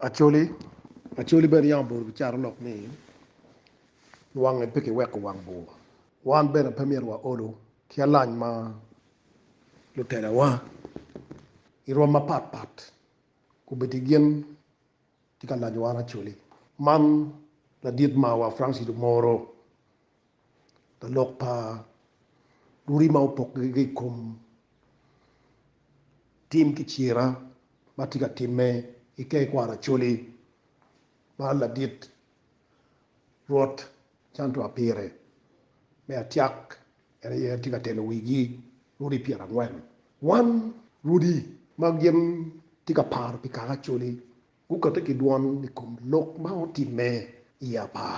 Acholi, Acholi bene yam obuto ki caro lok ni wange pe kiweko wang bur. Wan bene pe myero wa olu ki alac ma lutelawa i rwom mapat pat gubiti gin tye ka laco wan Acholi. Man ladit marwa Francis Omoro. Lalok pa lurima opokke ki i kom tim ki cira ma tye ka timme ki kee kwaro Acholi ma ladit Rwot cantua pire. Me atyak, en aye en tye ka telo wigi rwodi pyerangwen. Wan, rwodi ma gin tye ka paro pi kaka Acholi, gukate ki dwon i kom lok ma otimme i apar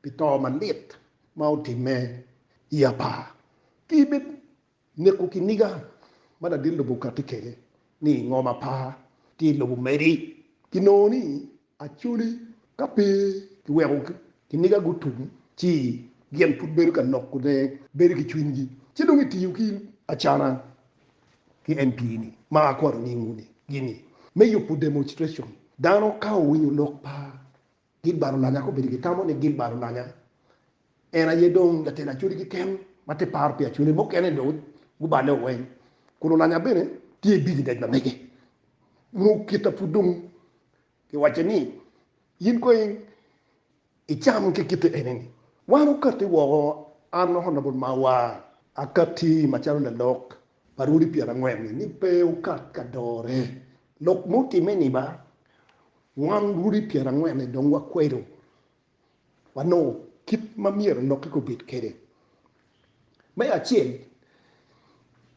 pi to malit ma otimme i apar ki i bed neko kiniga ma ladit lobo kati kede ni i ngom apar ki i lobo megi ki nongo ni Acholi ka pe ki weko kiniga gutum ci gin pud bedo ka loko ne bedo ki cwiny gi ci dong i tiyo ki acana ki MP ni ma akwano nying wu ni gi ni me yubu demonstration dano ka owinyo lok pa Gilbert Olanya ka obedo gitamo ni Gilbert Olanya en aye dong latel Acholi keken ma te paro pi Acholi mukene dong guballe o weny kun Olanya bene tye i business ma mege nyo kita pud dong kiwacce ni in kong icam ki kite eni ni wan okati woko an honorable Mawar akati macalo lalok pa rwodi pyerangwen-ni ni pe okat ka dore. Lok ma otimme-ni ba, wan rwodi pyerangwen-ni dong wakwedo, wanongo kit ma myero enokke gubed kwede. Me acel,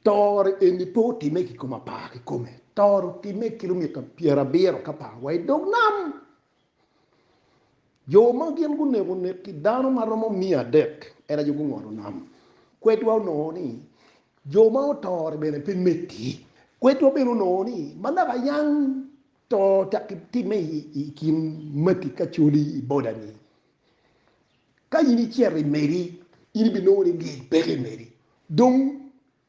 toro eni pe otimme ki kom apar kikome. Toro otimme kilomita pyerabiro ki apar wa i dog nam. Jo ma gin guneko neki dano ma romo miya adek en aye gungolo nam. Kwedwa onongo ni jo ma oto-ri bene pe metti. Kwedwa bene onongo ni ma naka yang to tek ki timme i kin mati ka coli i boda-ni, ka in icito i meri, in ibinongo ni lyec peke i meri. Dong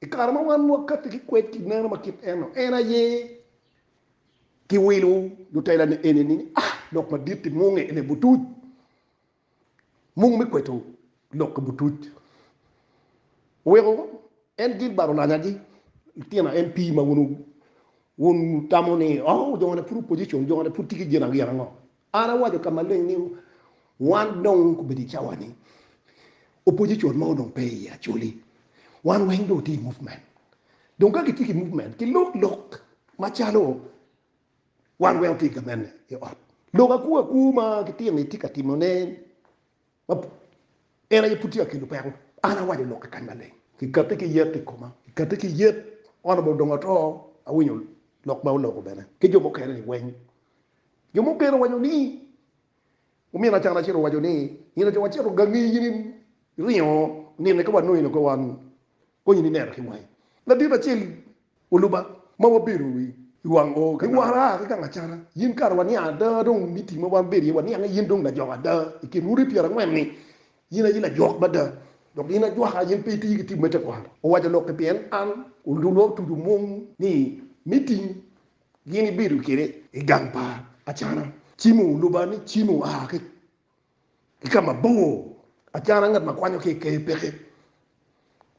I kare ma wan wakatti ki kwed ki meno ma kit eno, en aye ki wilo lutela ni eni ni a lok madit i munge ene butuc, mung me kweto lok i butuc. Oweko en Gilbert olanya gi litino MP ma wun wun wutamo ni oh jone pud opposition, jone pud tye ki gin angiya ango. An awaco ka maleng ni, Wan dong obedo i cawa-ni, opwonye con ma dong pe iye acoli, wan weng dong watye i movement. Dong ka kitye ki movement, kilok lok macalo wan weng watye i gamente i ot. Lok akwu akwu ma gitino-ni tye ka timone. Ma en aye pud tye ka kelo peko. An awaco lok i kany maleng, kikati ki yet i koma, kikati ki yet. Honorable dong ato, awinyo lok ma oloko bene ki jo mukene ni weng. Jo mukene owaco ni, Omin Achan acel owaco ni, Nino ca wacito gangi in iringo nino eka wanongo in oko wan. Konyi ni neno ki wangi ladit acel oluba ma wabedo i wang oo ka wara aa ki gang acata. Yin kare waniang ada dong miting ma wan bedo iye waniange yin dong lajok ada i kin odi pyera angwen ni yin aye lajok mada dok yin ajwaka yin pe itiyo ki tim me tekwaro. Owaco lok ki pien an olulwa otuco mung ni miting gin ibedo kede i gang pa acana. Cimo oluba ni cimo aa ki. ki ka mabor acana ngat ma kwanyo ki i Ker peke.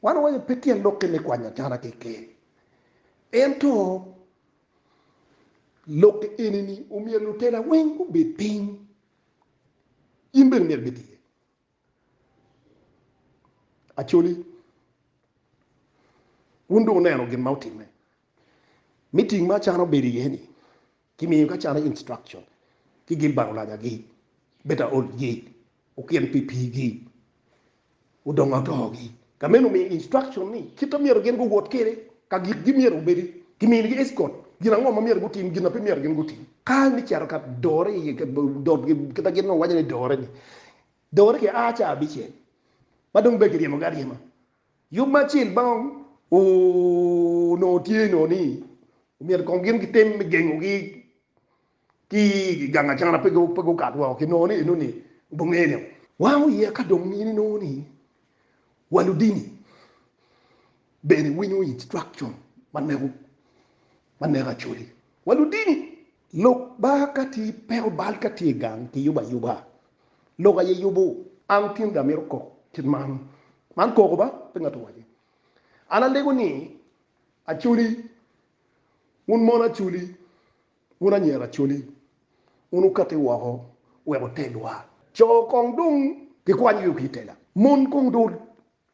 Wan wawaco pe tyen lokke me kwanyo acana ki i Ker. Ento lokke eni ni omyero lutela weng gubed piny, in bene myero ibed iye. Acholi, wun dong wuneno gin ma otimme. Miting ma acana obedo iye ni, Ki miyo ka calo instruction ki gin bang olaja gi, beta old gi, okin pi pi gi, odongo adongo gi. Ka meno miyo instruction ni kit ma myero gin guwot kwede, ka gik gi myero gubedi, ki miyo gi escort, gin ango ma myero gutim, gin ma pe myero gin gutim. Ka me cito ka dore i ka dot gi kit ma gin nongo waco ni dore ni, dore ki a ca abicel ma dong bed ki ryemo gi aryema. Yub ma acel ma onongo tye nongo ni omyero kong gin gitem me gengogi ki i gang acana pe gukat woko ki nongo ni enoni obonge ne wango iye ka dong in inongo ni wa ludini bene winyo instruction ma neko ma neko acholi wa ludini. Lok ba ka tye peko bal ka tye gang ki yubo ayuba lok aye yubo. An tinda amito kok kit man Man koko ba pe ngat owaci. An alego ni, Acholi, wun mon acholi, wun anyira acholi, wun wukati woko wek wutelwa. Co kong dong gikwanyo yo ki i tela, mon kong dong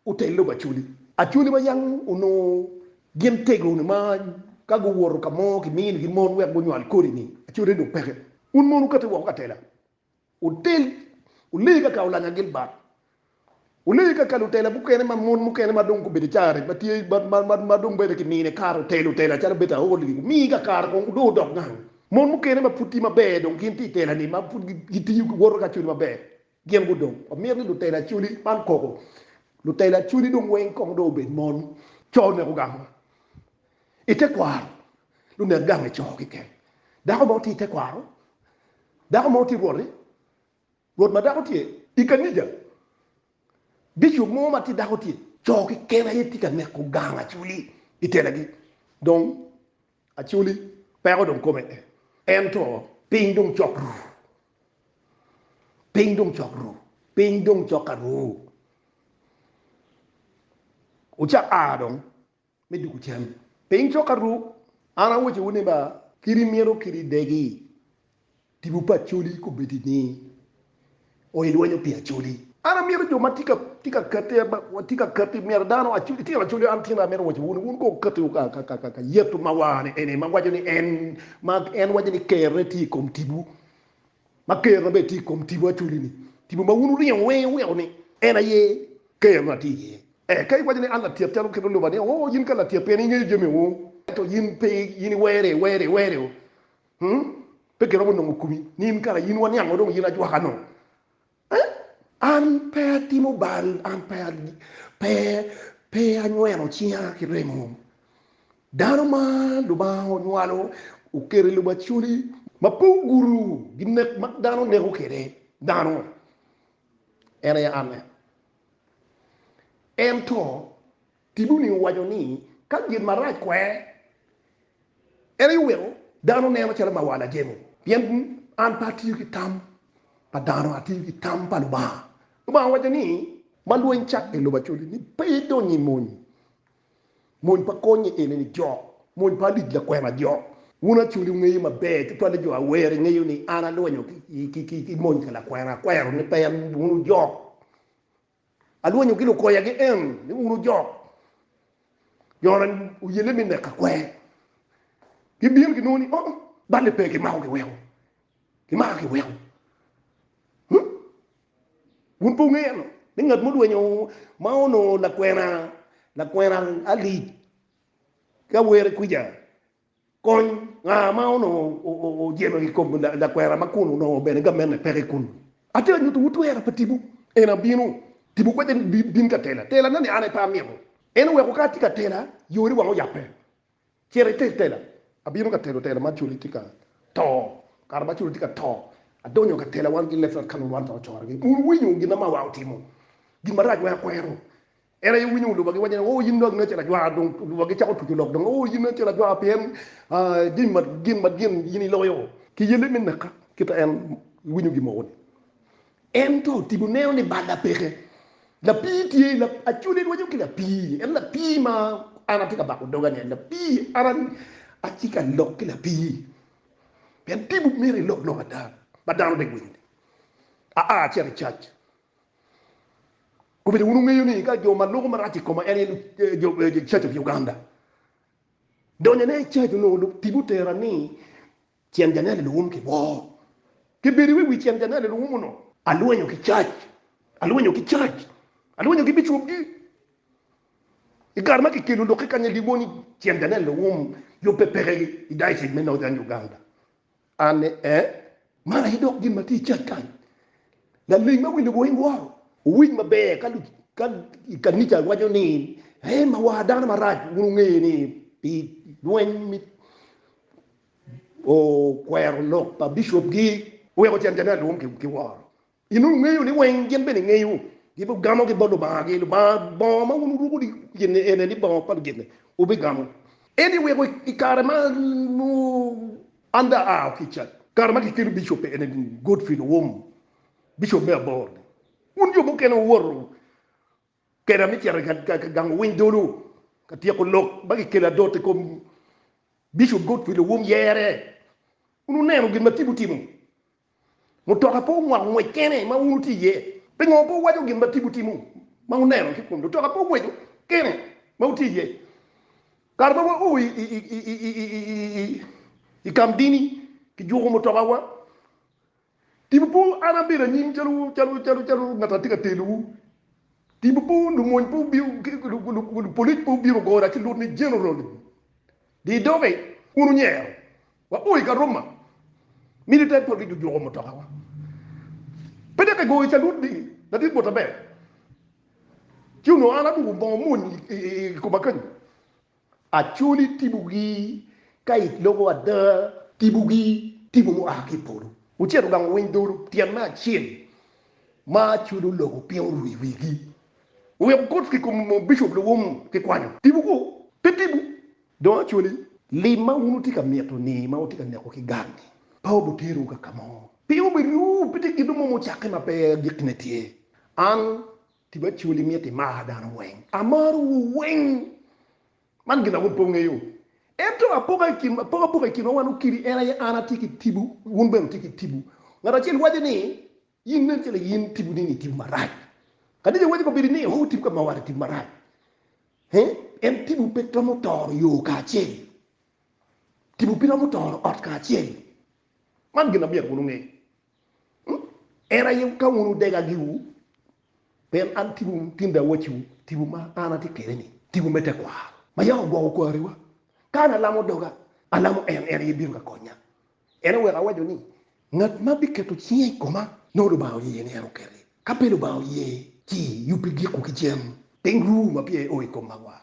otel lobo acholi. Acholi ma yam onongo gin tego-ni ma ka guwoto ka mo kimini-gi mon wek gunywal kodi-ni, acotine dong peke. Wun mon wukati woko ka tela. Wutel, wule kaka olanya Gilbert. Wule kaka lutela mukene ma mon mukene ma dong gubedo carec, ma tye, ma, ma dong bene kimine kare otelo otela calo Beta Hall-li. Wumi kaka kare kong dong odok gang. Mon mukene ma pud tye maber dong gin tye i tela-ni, ma pud gitiyo, giwoto ki acoli maber. Gin gudong. Wamito ni lutela acoli, man koko, lutela acoli dong weng kong dong obed mon. Co oneko gamo. I tekwaro, Lunek gange co keken. Dako mo tye i tekwaro. Dako mo tye rwot-ti. Rwot ma dako tye i kanija. Bicop mo ma tye dako tye. Co keken aye tye ka neko gang Acholi i telagi. Dong Acholi peko dong kome ee. Ento piny dong cok ru. Piny dong cok ru. Piny dong cok ka ru. Ocak aa dong. me duku cam. Piny cok aru, an awocowu ni ba, kadi myero kadi degi tipo pa Acholi kobedi ni o ilwenyo pi Acholi. An amyero jo ma tye ka kati, watye ka kati, myero dano, itino Acholi, an tino, amyero awocowu ni wun ko wukatiwu ka Yecu ma war-ni eni, ma waco ni en, ma en waco ni Kerre tye i kom tibu. Ma Kerona bene tye i kom tipo acoli-ni, tipo ma wun wuringo wenge wuweko ni en aye Kerona tye iye. Eka iwaco ni, 'An latyet calo kit luloba ni, Oo, yin ka latyet pien ingeyo jami oo, ento yin pe in iwere, iwere, iwere oo. Pe giromo nongo kumi ni in kara in waniang-o dong yin ajwaka-nu. An pe atimo bal, an pe anyweno cinga ki remo. Dano ma Lubanga onywalo oketo i lubaculi ma pe ogudo ginek ma dano neko kwede dano, en aye anne. Ento Kiduni owaco ni, Ka gin marac kwer, en aye oweko dano neno calo ma wan ajemo. Pien an pe atiyo ki tam pa dano, atiyo ki tam pa Lubanga. Lubanga owaco ni. Ma lweny cakke i lobo acoli ni pe idony i mony, mony pa konye enini jok, mony pa alic lakwena jok. Wun acoli wungeyo maber, tutwali jo awer, ingeyo ni an alwenyo ki mony ka lakwena, akwero ni pe wun wujok. Alwonyogi lukoya gien ni un ojok Yona oyelle me neka kwer. Gibino ginongo ni oo. Balle pe kimako giweko. Kimaka giweko. Hmm. Wun pe wungeyo ano ni ngat mo dwenyo ma onongo lakwena lakwena alic ki awere kwica Kony, Nga ma onongo ojemo i kom lakwena ma kun onongo bene gamenne peke kun ni, Atye ka nyutiwu twerra pa tipo, en abino. Tipo kwede ni bin ka tela. Telane-ni an aye pe amito. En oweko ka atye ka tela, yori wang oyabbe. Cit itel tela. Abino ka telo tela ma culi tye ka to. Kare ma culi tye ka to, adonyo ka tela wan ki Lefrat ka lulwal ka ocorgi. Wun wuwinyo gin ma mawa otimo, gin marac ma akwero. En aye winyo oluba giwaco ni oo in dong acel ajwara dong oluba gicako tuco lok dong oo in acel ajwara pien gin ma gin ma gin in iloyo ki yelle me naka kita en winyo gin mogo ni en to tipo neno ni balla peke lapii tye lap acoli rwaco ki lapii en lapii ma an atye ka bako doga ni en lapii an atye ka lok ki lapii pien tipo meri lok lok ada ma dano dek winyo ni aa acito i cac Gubedo wun wungeyo ni ka jo ma loko marac i koma en aye Church of Uganda. Donyone i church onongo lub tibu tera ni cen janel i luwum ki bor. Kibedo i wi wi cen janel i luwum onongo. Alwenyo ki church, alwenyo ki church, alwenyo ki bicwopgi. I kare ma kikelo lok ki kanya dibo ni cen janel i luwum yubbe peke i diocese me Northern Uganda. An ni, Ee, man aye dok gin ma tye i cal kany. Laleng ma winyo weng woro, wuwic maber ka lub ka i kanica waco ni, En ma war dano marac wun wunge ni pi lweny mi okwero lok pa bicopgi. Wek ocen jammi alwum ki woro In wungeyo ni weng gin bene ngeyo, gibigamogi bot lubangagi. Lubanga bongo ma wun wuruko gin-ni ene ni bongo pa lugitne wubigamo. Ento i weko i kare ma an dong aa ki i cat, kare ma kikelo bicobbe ene ni Godfrey Luwum, bicop me abor-ni, wun jo mukene wuwoto keda me cito ka gamo winy dolo ka tyeko lok ma kikelo adot i kom Bicop Godfrey Luwum yere. Wun wuneno gin ma Tibu timo. Mutoka pe omoko ngwec kene ma wun wutye iye. Pingo pe wuwaco gin ma tibu timo ma wuneno ki kun mutoka pe ongweco kene ma wutye iye? Kare ma wao i kamdini, kijuko mutokawa. Tibu pe an abedo anyim calo ngat atye ka telowu. Tibu pe lumony pe obino, lupolic pe obino gora ci lut ni General dii doge, wun wunyero Wabor i Karuma, Military Police gujuko mutokawa. Pe dok egoyo calut ni, Ladit bota ber. Ci onongo an aruko bongo mony i koma kenyo. Acholi tibogi ka it loko ada, tibogi tibo mua ki i polo. Ocito gang owiny dolo tyen me acel ma acholi oloko piny oru i wigi. Oweko coats ki kom bicop luwum kikwanyo. Tibo kwo, pe tibo. Dong acwali, lim ma wun wutye ka mito-ni, ma wutye ka neko ki gang-ngi, pe obuterowu ka ka mo. Piny obiruwu, pe tye gin mo mucakke ma pe gikkine tye. An, tipo acwali, mito imar dano weng. Amarowu weng. Man gin ma wun pe wungeyo. Ento apoko apoka i kinwa wan okiri, en aye an atye ki tipo, wun bene wutye ki tipo. Ngat acel waco ni, In nen calo in tipo nini i tipo marac. Kadi iwaco kabedi ni Yehowa tipo ka ma wara i tipo marac, en tipo pe romo toro yo kacel. Tipo pe romo toro ot kacel. Man gin ma myero wun wunge. En aye ka wun wudega giwu, pien an tipo tinde awacciwu tipo ma an atye kwede ni, tipo me tekwaro. Ma yaka ogwoko kwariwa. Ka an alamo doga, alamo en, en aye bino ka konya. En oweko awaco ni, Ngat ma biketo cinge i koma, nongo Lubanga oye ni en okelle. Ka pe Lubanga oye, ci yubbi gikwu ki cen, piny ru ma pye o i kom makwar.